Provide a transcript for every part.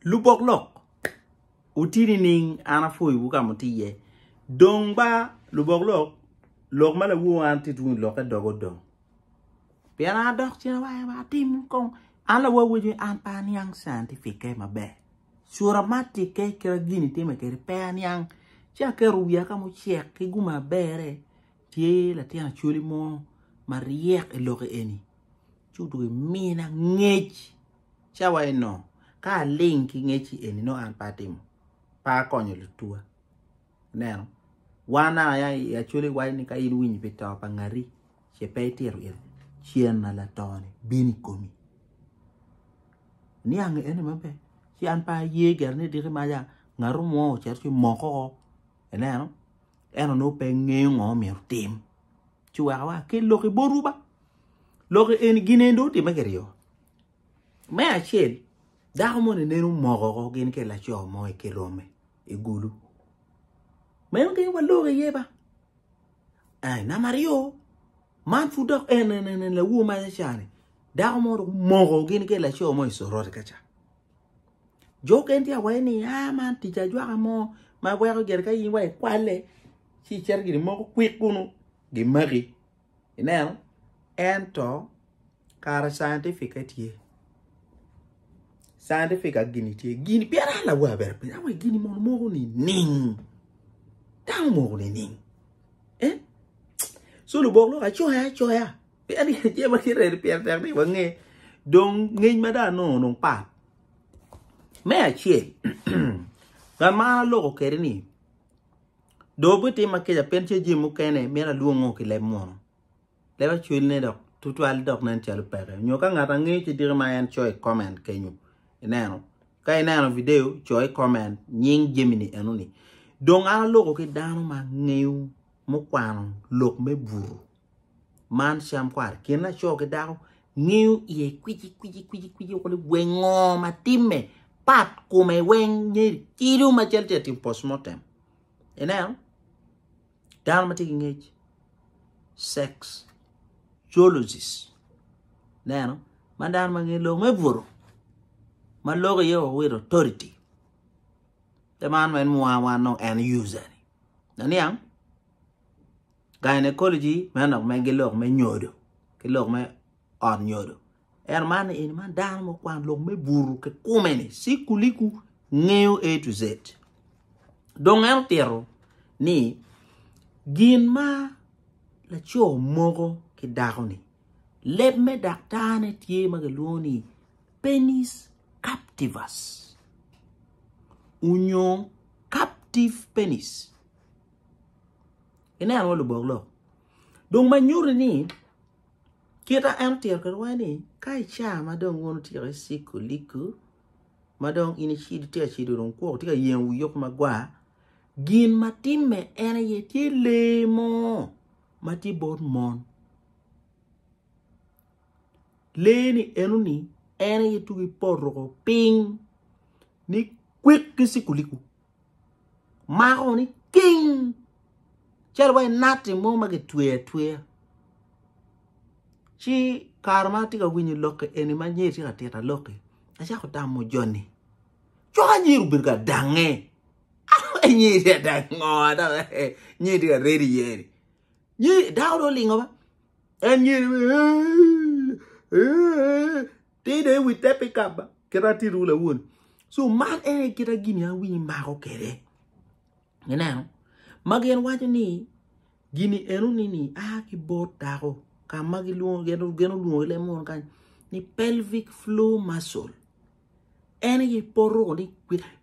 Lubok lok, wuti nining? An apwoyowu ka muti iye. Dong ba lubok lok, lok ma lawowa an ti tung ilokke doga odong. Pien an adok cen awaye ma atim kong. An lawowa awaco ni an pe aniang scientific-ke maber. Cura matikke kit ma gin itime kwede pe aniang. Ci aketo wiya ka mucek ki gum ma berre, tye latin Acholi mo maryek i lokke eni. ci odwogo emina ngec cawa eno ka aling ki ngeci eni nongo an pe atimo pe akonyo lutwa ineno wan aya i acholi iwaco ni ka in iwinyo pi to pa ngati ce pe itito it cen ma latoni bino i komi niang eni maber ci an pe aye gire ni diki maca ngatu mo ocito ci omoko ineno en onongo pe ngeyo ngo myero otim. ci weka wa ki lok i botwu ba lok eni gin eni dong otimme kiryo me acel dako mo ni neno moko ko gin ke laco mo i kirome i gulu meno gin wa lok iye ba eh nama ryo man fu dok en en en lawu ma cani dako mo dong moko gin ke laco mo i sorot kaca Jo okene tye ka waco ni aa man tic ajwaka mo ma weko gire ka in wa ikwalle ci icito gire moko kwik kunu gimaki ineno ento kara scientific aye tye scientific aye gini tye gini pien an lawa bene apenyo ni awa gini mono moko nining dano moko nining so lubok lok acoya acoya. Pien ni tye ma tye redi pien tek ni wange dong ngec ma dano nongo dong pat. Me acel, ngat ma an aloko kede ni dong obitim ma keca pien tye jami mukene mito alwongo ki leb munu. Leb acwelne dok tutwal dok nen calo peke. Nyo ka ngat angeyo ci diki ma en coyo i comment kenyo. Ineno? Ka ineno video, coyo i comment nying jami-ni enoni. Dong an aloko ki dano ma ngeyo mukwano lok me buru. man cam kwar kin laco ki dako ngiyo iye kwici kwici kwici kwici kuli wengo ma timme pat kume weng nyeri kilo ma cal tye tim postmortem ineno dano ma tye ki ngec sex geologis neno ma dano ma ngeyo lok me buto ma lok iye owito authority te man en mwaa wan nongo en user ni naniang Gynecology meno nok men ki lok me nyodo ki lok me ot nyodo ento man ni eni man dano mo kwan lok me buru ki kume ni sikuliku ngeyo A to Z dong en otito ni gin ma laco moko ki dako ni leb me daktar ne tye ma kilwongo ni penis captivus onyo captive penis Ineno wa lubok lok. Dong ma nyuti ni kita en otito kwede wai ni ka ica ma dong wun otyeko iciko liku ma dong in icido itye ka cido dong kwok itye ka yengo wi yoko magwar gin ma timme en aye tye lee mo ma tye bot mon lee ni enoni en aye tugo i poto piny ni kwik ki ciko liku. mako ni king calo wa inati mo ma gitweyo atweya ci kare ma atye ka winyo lokki eni ma nyer tye ka tita lokki acako tamo joni cok anyer obedo ka dange nyer tye ka dange ngo dok nyer tye ka reny iye ni nyer dako dong olingo ma en nyer Ti dong i wi te pikabba kit atitiwu lawoni. So man en aye kit gin ma awinyo imako kwede. Ineno? Ma gin waco ni gini enoni ni a ki bot dako ka ma gilwongo gin olwongo ilem mono kany ni pelvic floor muscle. En aye poto ni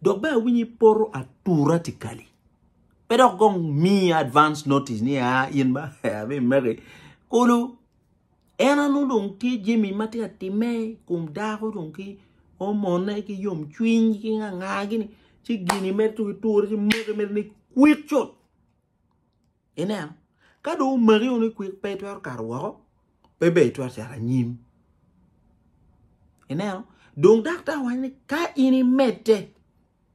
dok bene awinyo ipoto atura tikali. Pe dok gong mi advance notice ni a in ba abi meki kulu En a nongo dong tye jami ma tye ka timme i kom dako dong ki omone ki yomcwiny ki nga nga gini ci gini mere ci giture ci make mere ni kwik cut ineno ka dong omaki o ni kwik pe itwero kato woko pe bene itwero cito anyim ineno dong daktar waco ni ka in imedde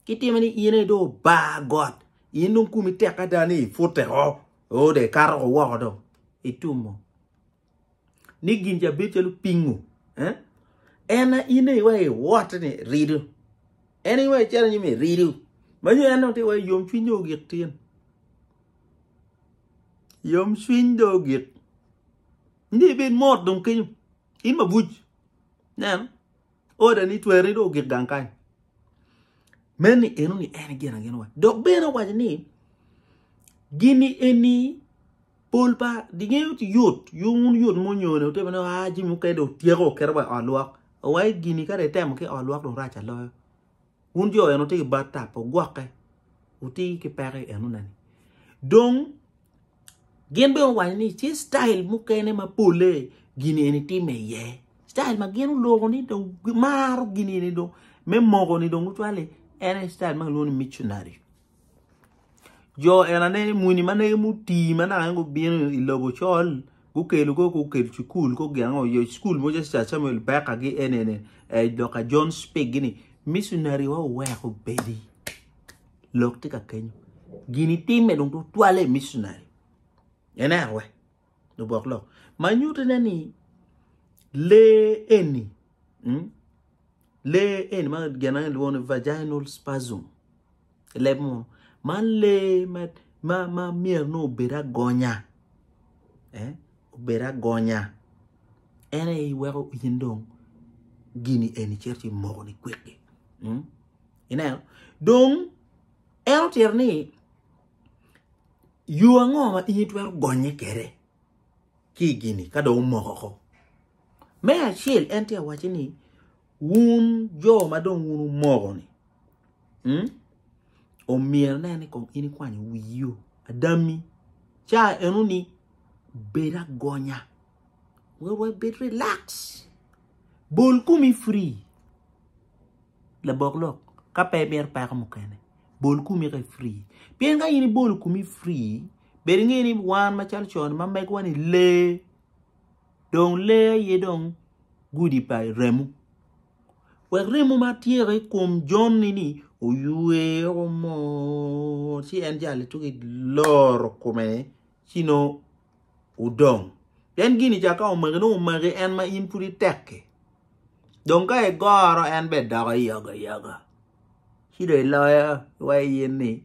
Ki time ni in aye dong obar got, in dong kumi tek ada ni ipute o, o dong ikato ko woko dong. Itum mo. Ni gin ca bedo calo pingu. Eh? En a in aye wa iwote ni ridu. En aye wa icalo nyim iridu. Manyo en dong ti wa yom cwiny dong ogik tin. Yom cwiny dong ogik. Ndi ibed mot dong kenyo. In mabuc. Nen. oda ni tweri do ogik gang kany men ni eno ni en gin agin wa dok bene owaco ni gini eni pol pa dinge yot yung un yot munyone otebe ni ah jimi okede otyeko oketo wa olwak owaco gini kare itemo ki olwak do rac aloyo Wun jo en wutye ki bat tap, wugwokke, wuti ki peko en wune ni. Dong gin bene guwaco ni tye citail mukene ma polle gin eni timme iye. Citail ma gin oloko ni dong gimaro gin eni dong me moko ni dong gucwale en aye citail ma kilwongo ni micunari. Jo enane muni ma negi mutii ma naka gubino i lobo ocol gukelo kong gukel cukul kong gin ango oyoc cukul mogo calo Sir Samuel Baker gi enene Dokta John Speke gini miconary wa oweko obedi lok tye ka keny gin itime dong tutwalle i miconary ineno wee. lubok lok ma nyuto ne ni lee eni mm, lee eni ma gin ma gilwongo ni vaginal spasm i leb munu man lee ma ma ma myero ni obed agonya eh, obed agonya en aye iweko in dong gini eni cito ci moko ni kwikki mm? ineno dong en otyero ni Yo ango ma in itwero gonye kede ki i gini ka dong omoko oko? Me acel en tye awaci ni wun jo ma dong wun omoko-ni hmm? omyero ne ni kong in ikwanyo wiyo adami ca eno ni bed agonya wer wa bed relax bol komi free labok lok ka pe imito peko mukene Bol kumi ka free. Pien ka in ibolo kumi free, bed ingeyo ni wan macalo con ma megwa ni lee. Dong lee aye dong gudi pa remo. Wek remo ma tyeka i kom joni ni oywe oko mot ci en jale tuki loro kome ci nongo wudong. Pien gin ca ka omaki nongo omaki en ma in pud itek-ki. Dong ka igoro en bene doko yogoyogo ci dong iloyo wa in ni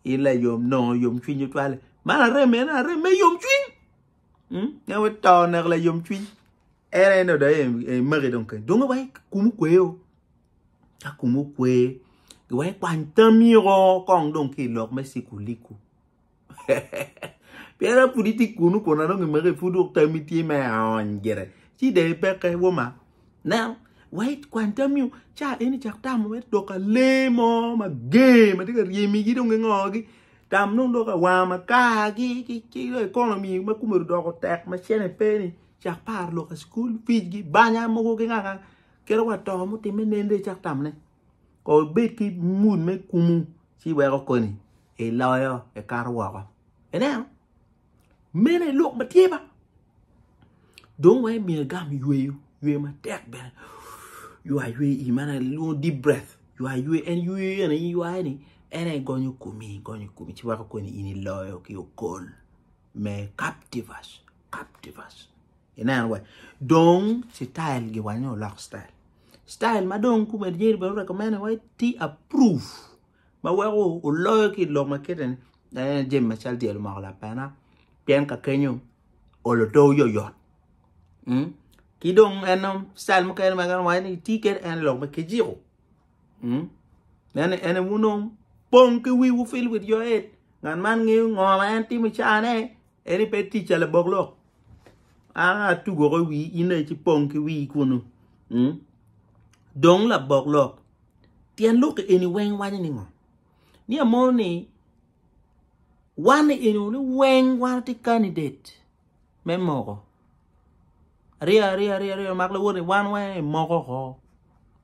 in layom nongo yomcwiny otwali. Man are mene are me yomcwiny ngat ma to oneko layomcwiny en aye nongo dong emaki dong kany dong iwacci kumu kwe o ka kumu kwe iwacci kwany tamiko kong dong ki ilok me cikuliku. Pien an pud itye kunu kun an dong imaka ipud dok tammi tye me aony gire. Ci dong ipekke woma. Nen, wa ikwany tammi ca eni cak tamo me doko alee mo mager ma tye ka ryemigi dong gingogi. Tam dong doko awanga makargi ki economy ma kome odoko tek ma cene pe ni cak par lok school fees-gi banya mogo ki nganga kit wa to mutimme nen dong icak tam ne. Kong ibed ki mut me kumu ci weko koni iloyo ikato woko. Ineno? Meno aye lok ma tye ba. Dong weko imiyo igam yweyo, yweyo matek bene. Ywa yweyo ii man lwongo deep breath. Ywa yweyo, en yweyo eno in iywayo ni en aye gonyo komi, gonyo komi ci weko koni in iloyo ki okol me captivus, captivus. Ineno wa? Dong citail giwanyne oloko citail. Style ma dong kume jami bene recommend wa tye approve ma weko oloyo ki i lok ma kite ni en aye jami macalo dyelo moko lapena pien ka kenyo olo to oyoyot mm ki dong en dong style mukene ma en waco ni tye kene en lok me kijiko mm en en aye wun dong pong ki wiwu feel with your head ngat man ngeyo ngo ma en timo i caa ne. Eni pe tic ca labok lok. A tugo ko wi in aye ci pong ki wi kunu. Mm. Dong labok lok. Tyen lok eni weng waco ni ngo? Ni amono ni wan eni ni weng wan ti candidate me moko. Riya riya riya riya mak lawor ni wan wan e moko ko.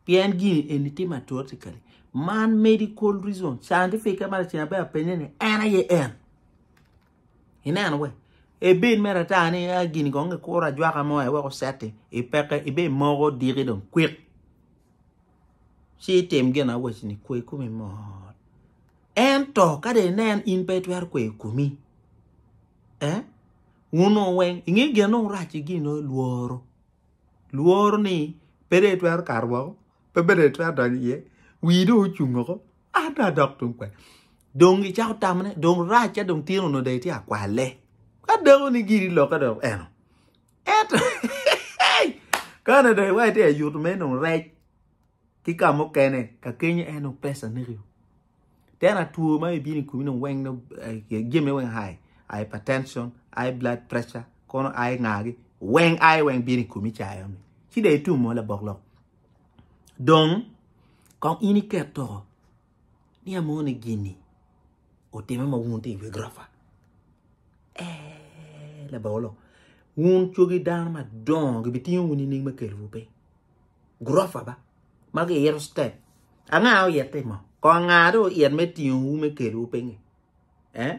Pien gini eni ti matortikali. Man medical reason scientific e man cina be apenye ni en aye en. ineno we ibin mere ata ni a gini kong kikuro ajwaka mo aye wek oceti ipeke ibe imoko odiki dong kwik ci itim gin awacini kwe komi mot ento ka dong inen in pe itwero kweyo komi eh wun nongo weng inge gin ma orac ki gin onongo ilworo lworo ni pe dong itwero kato woko pe dong itwero donyo iye wii dong ocung woko. Ada dok tung kwen. Dong icako tamone, dong racca dong tyen onongo dong itye akwale. Ka dako ni giri lokke dong eno. Ento, kane dong iwa itye ayuto me nong rec ki ka mukene, ka kenyo en nong pesa nekio. Tena two ma ibino i kumi nong weng nong eh, jami weng hai, hypertension, ai blood pressure, kono ai ngagi, weng ai weng bino i kumi cayo ni. Ci dong itumo labok lok. Dong kong in iket to ni amoni gini otime ma wun tye i wi gurofa. Eh, labolo, wun cogi dano madongo gibitingo wun ining me kelowu piny. Gurofa ba, ma giyito step. Anga oyette mo? Kong anga do oyet me tingowu me kelowu piny? Eh?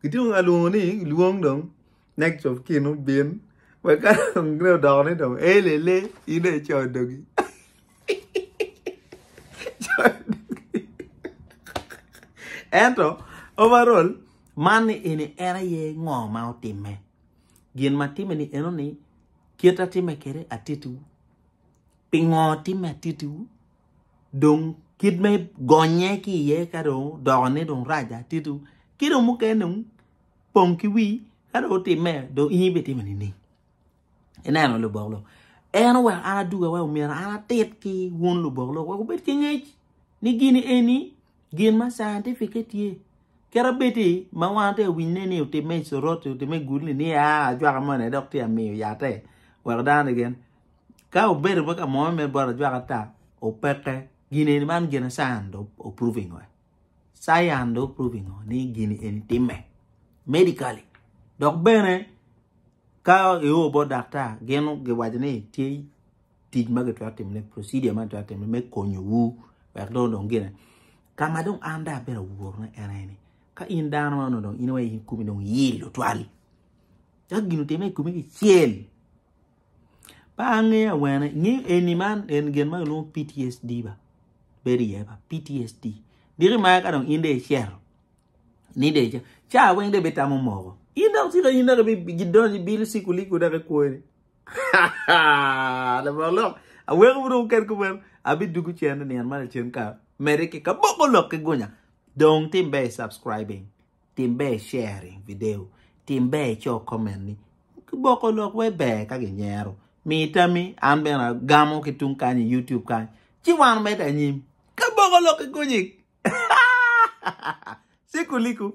Kitye ka lwongo ni lwong dong next of kin obin wek ka dong gine odoko ni dong elele in dong icoyo dogi ento overall man ni eni en aye ngo ma otime gin ma time ni eno ni kit atime kede atitiwu pingo time atitiwu dong kit me gonye ki iye ka dong odokone dong rac dong tito ki dong mukene dong pong ki wii ka dong otimme dong in bene itime nining ineno lubok lok en oweko an aduga wa omyero an atit ki wun lubok lok wek wubed ki ngec ni gini eni gin ma cientific-ce tye kit abedi ma wan watye ka winyone ni otimme i Soroti otimme i Gulli ni aa ajwaka moni dok tye ka miyo yatte wek dano keken ka obedo me kamo me bot ajwaka ata opeke gin eni man gin science dong o proving ngo science dong o proving ngo ni gin eni time medically dok bene ka io bot daktar gin giwaco ni tye tic ma gitwero timone procedure ma gitwero timone me konyo wu wek dong odong gine ka ma dong an dong abedo aworo ne en aye ni ka in dano ma onongo dong in aye in kumi dong iyil tutwal cak gin otime i kumi kicel Ba angeyo awene ngeyo eni man en gin ma kilwongo PTSD ba bedo iye ba PTSD diki ma ka dong in de icero ni de icero ca weng de bitamo moko in dok tika in dok gidonyo ibilo sikuliku dok ikwoni labongo lok aweko bino ket ku meno abidugu cene nian ma lacen ka mede ki kaboko lok ki gunya dong timbe subscribing Tim ber sharing video, tim ber icok comment ni kiboko lok wai ber ka ginyero. Mi tammi an bene agamo ki tung kany i YouTube kany ci wan omedde anyim. Kaboko lok ki gunyik. Sikuliku.